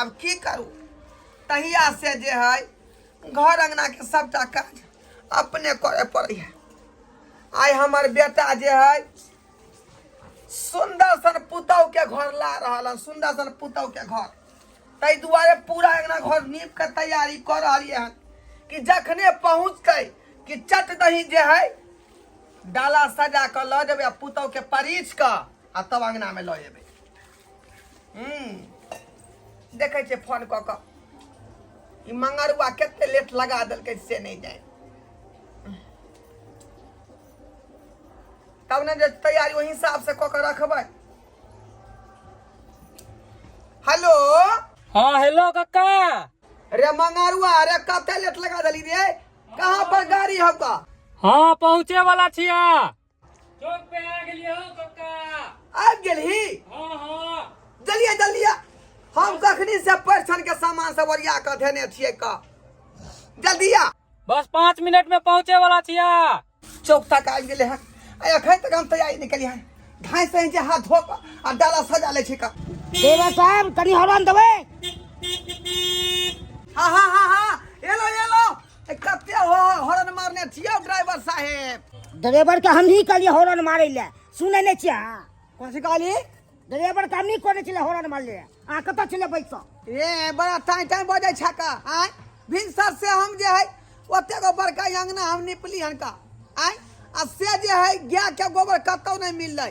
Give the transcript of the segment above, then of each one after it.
अब की करू तहिया से जे है घर अंगना के सबटा काज अपने करे पड़े है आइ हमर बेटा जे है सुंदर सन पुतौ के घर ला रहल है सुंदर सन पुतौ के घर ताहि दुआरे पूरा अंगना घर नीप के तैयारी कर रही है कि जखने पहुँचते कि चट दही जे है डाला सजा के लऽ जेबै आ पुतौ के परिच के आ तब अंगना में लऽ जेबै हम्म, देखै छियै फोन कऽ कऽ ई मंगरुआ कते लेट लगा देलकै से नहि जाय तब ने जे तैयारी ओहि हिसाब से कऽ के रखबै हेलो हाँ हेलो काका रे मंगरुआ रे कते लेट लगा देली रे कहाँ पर गाड़ी हौका हाँ पहुँचे वाला छिया चौक पे आ गेलिए हो कक्का आबि गेलही हां हां जलिए जलिए हम कखनी से परिछन के सामान सब ओरिया के धेने छियै का जल्दी आ बस पाँच मिनट में पहुँचे वाला छिया चौक तक आबि गेले हन आ एखन तक हम तैयारी नहि केलियै हन धाँइ से जे हाथ धो कऽ आ डाला सजा लै छै का देवा साहब कनी हॉर्न देबै कते हॉर्न मारने छियो ड्राइवर साहेब ड्राइवर के हम ही कहलिए हॉर्न मारे ले सुने ने छिया कौन सी कहली ड्राइवर के हम ही कहने छिले हॉर्न मार ले आ कत छिले बैसो ए बड़ा टाइम टाइम बजे छका आय भिनसर से हम जे है ओते गो बड़का अंगना हम निपली हनका आय आ से जे है गाय के गोबर कतौ नहीं मिलले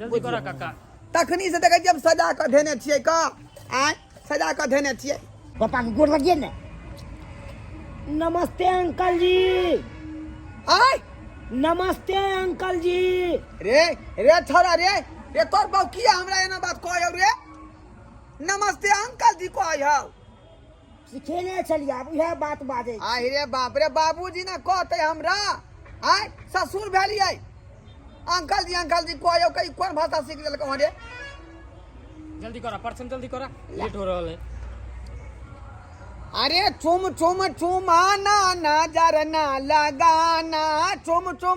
जल्दी करा काका तखनी से देखै छियै हम सजा कऽ धेने छियै का आय सजा कऽ धेने छियै पापा के गोड़ लगिए ने नमस्ते अंकल जी आय नमस्ते अंकल जी रे रे छोरा रे रे तोर बाप किया हमरा एना बात कहै हौ रे नमस्ते अंकल जी कहै हौ सिखेने छलियै आब इएह बात बाजै छी। आहि रे बाप रे बाबूजी ने कहते हमरा आय ससुर भेलियै अंकल जी अंकल जी कहियो कही कोन भाषा सीख लेलकौ हँ रे जल्दी करा परसम जल्दी करा लेट हो रहल है अरे चुम चुम चुमाना नजर ना लगाना चुम चुम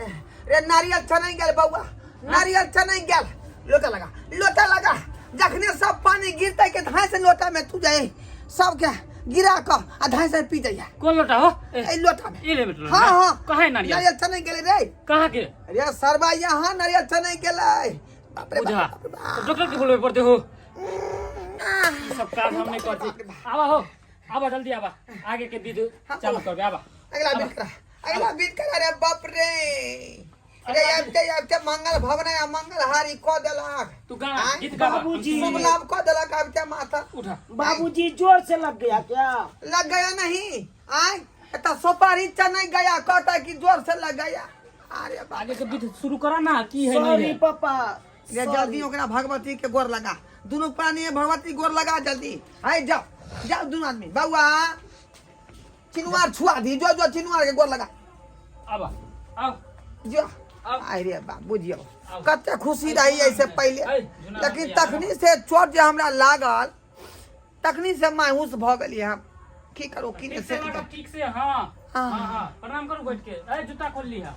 ए, रे नारियल छनै गेल बौआ नारियल छनै गेल लोटा लगा लोटा लगा जखने सब पानी गिरते के धाय से लोटा में तू जाए सबके गिरा क आ धाय से पी जाइए कौन लोटा हो ए, ए लोटा में ये ले बेटा हाँ हाँ कहाँ है नारियल नारियल छनै गेल रे कहाँ के रे सरबा यहाँ नारियल छनै गेल बाप रे बुझा बाप रे बाप। तो डॉक्टर के बोलबे पड़ते हो ई सब काम हम नहीं करते आवा हो आवा जल्दी आवा आगे के विधि चालू करबे आवा अगला बेटा अगला बीत करा रे बाप रे रे आबते आबते मंगल भवन आ मंगल हारी क देलक तू गा आय, गीत गा बाबूजी। शुभ लाभ क देलक आबते माता उठा बाबूजी जोर से लग गया क्या लग गया नहीं आय एता सोपारी चने गया कहता कि जोर से लग गया अरे बाप आगे के गीत शुरू करा ना की है नहीं सॉरी है पापा रे जल्दी ओकरा भगवती के गोर लगा दुनू प्राणी भगवती गोर लगा जल्दी आय जाओ जाओ दुनू आदमी बउआ चिनुआर छुआ दी जो जो चिनुआर के गोर लगा आबा आउ जो आउ। आय रे बा बुझियो आउ। कते खुशी रही ऐसे पहले आइ, झुना लेकिन माटी आउ। तखनी से चोट जे हमरा लागल तखनी से मायूस भ गेलिए हम की करू की ने ठीक से से लगा ठीक से हाँ हाँ। हाँ हाँ प्रणाम करू बैठ के ए जूता खोल ली है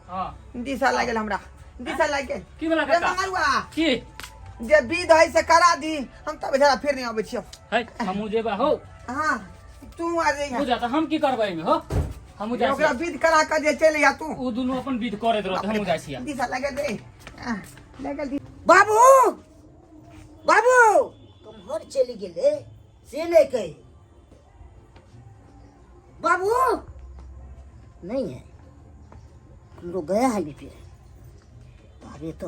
हाँ दिशा लाग गेल हमरा दिशा लाग गेल की बोला रे काका मंगरुआ की जे विध है से करा दी हम तब जरा फिर नहीं आबै छियो है हमू जेबा हो हाँ तू आ जइहा बुझा त हम की करबै एहिमे हो हमहूँ जाइ ओकरा छियै विध करा के जे चलि जा तू ओ दुनू अपन विध करैत रहत हमहूँ जाइ छियै दिशा लगे दे आ, लगे दे बाबू बाबू कम्हर चलि गेलै से नहि कही बाबू नहीं है हम लोग गया है बीपी अरे तो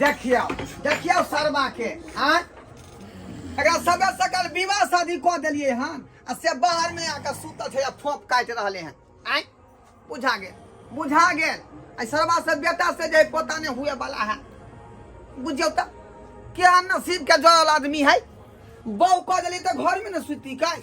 देखियो देखियो सरवा के हां एकरा सबे सकल विवाह शादी क देलिए हां आ से बाहर में आके सुतल छै आ थोप काट रहले हैं आय बुझा गेल बुझा गेल आ सरवा से बेटा से जे पोता ने हुए वाला है बुझियो त के नसीब के जोड़ल आदमी है बौ क देली त घर में न सुती काई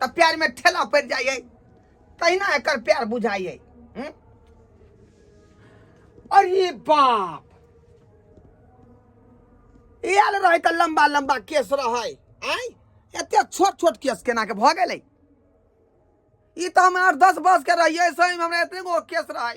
तऽ प्यारमे ठेला पड़ि जाइए तहिना एकर प्यार बुझाइए हम्म? अरे बाप आयल रहै तऽ लम्बा लम्बा केस रहै आय एते छोट छोट केस केना के भऽ गेलै ई तऽ हम आठ दस बस के रहियै सही हमरा एते गो केस रहै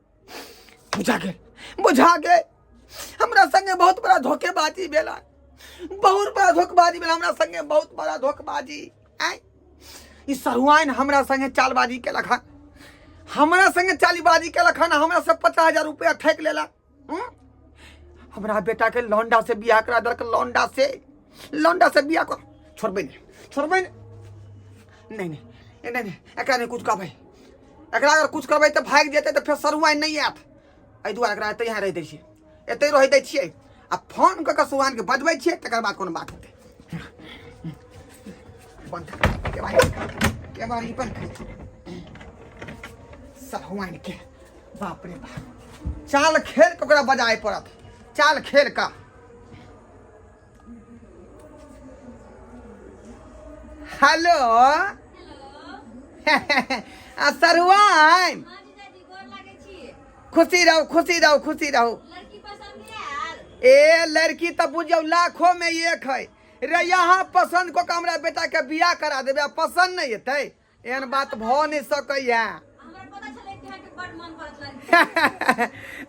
बुझा गेल बुझा गेल हमरा संगे बहुत बड़ा धोखेबाजी भेला बहुत बड़ा धोखेबाजी भेला हमरा संगे बहुत बड़ा धोखेबाजी आय ई सरुआइन हमरा संगे चालबाजी केलक हन हमरा संगे चालीबाजी केलक हन हमरा से पचास हजार रुपया ठेक लेला हम्म? हमरा बेटा के लौंडा से बियाह करा देलक लौंडा से लौंडा से बियाह कर छोड़बे नहीं छोड़बे नहीं नहीं नहीं नहीं नहीं, नहीं एकरा नहीं कुछ कहबै एकरा अगर कुछ करबै तऽ भागि जेतै तऽ फेर सरुआइ नहि आयत एहि दुआरे एकरा एतै यहाँ रहि दै छियै एतै रहै दै छियै आ फोन कऽ कऽ सुहानके बजबै छियै तकर बाद कोनो बात हेतै बन्द केबारी बन्द सहुआनके बाप रे बाप चाल खेल कऽ ओकरा बजाय पड़त चाल खेल कऽ हेलो आ सरुआइन खुशी रहू खुशी रहू खुशी रहू ए लड़की तो बुझियो लाखों में एक है रे यहाँ पसंद को हमरा बेटा के बियाह करा देबे आ पसंद नहीं हेतै एहन बात भ नहि सकैया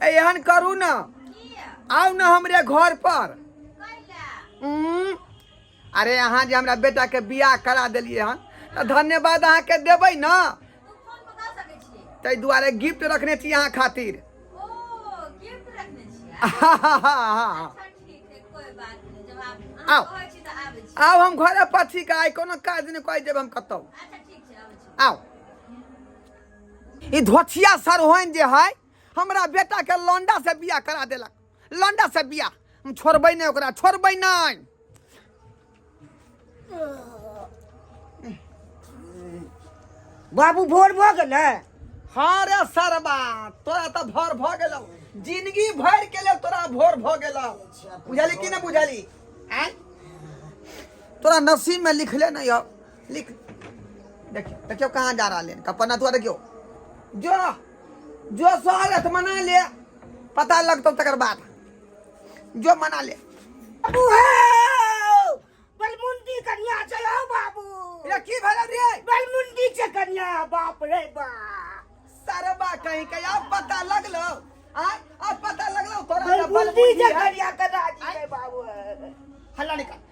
एहन करू ने आउ ने हमरे घर पर उम्म, अरे अहाँ जे हमरा बेटा के बियाह करा देलियै हन तऽ धन्यवाद अहाँ के देबै ने ताहि दुआरे गिफ्ट रखने छी अहाँ खातिर हाँ, हाँ, हाँ, हाँ। आउ आउ हम घरे पर छी का आइ कोनो काज नहि कहि देब हम कतहु आउ ई धोछिया सरहोइन जे है हमरा बेटा के लौंडा से बियाह करा देलक लौंडा से बियाह हम छोड़बै नहि ओकरा छोड़बै नहि बाबू भोर भऽ गेलै हाँ रे सरबा तोरा तऽ भोर भऽ गेलौ जिंदगी भर के लेल तोरा भोर भऽ गेलौ बुझली कि नहि बुझली आय तोरा नसीब में लिखले नहीं हो लिख देखियो देखियो कहाँ जा रहा लेन कपना तू देखियो जो जो स्वागत मना ले पता लगतौ तकर बाद जो मना ले बाबू हौ बलमुंडी कन्या छै हौ बाबू रे की भेल रे बलमुंडी छै कन्या बाप रे बा सरबा कहीं के अब पता लगलो आ अब पता लगलो तोरा बलमुंडी छै कन्या कदा जी रे बाबू हल्ला निकाल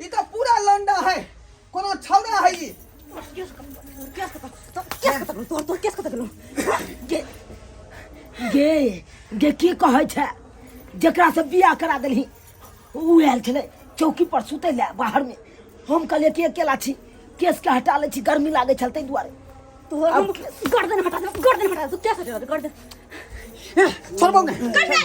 ई तऽ पूरा लंडा है कोनो छौड़ा है ई केस कतऽ केस कतऽ तोर केस कतऽ गेलौ? तोर तोर केस कतऽ गेलौ गे गे गे की कहै छै जकरा से बियाह करा देलही ऊ आयल छलै चौकी पर सुतै लए बाहर मे हम कहलियै कि अकेला छी केस के हटा लै छी गर्मी लागै छल ताहि दुआरे तोर हम गर्दन हटा दे गर्दन हटा दे केस हटा दे गर्दन छोड़बौ ने गर्दन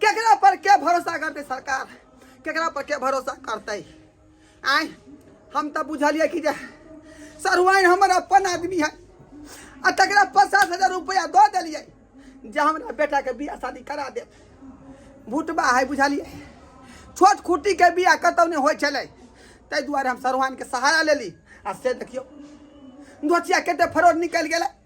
केकरा पर के भरोसा करते सरकार केकरा पर के भरोसा करते आय हम तो बुझलिए कि जे सरुआइन हमर अपन आदमी है आ तकरा पचास हजार रुपया दऽ देलिए जे हमरा बेटा के बियाह शादी करा दे भुटबा है बुझलिए छोट खुटी के बियाह कतौ नहीं हो चले ताहि दुआरे हम सरुआइन के सहारा लेली आ से देखियो धोतिया केते फरोड निकल गया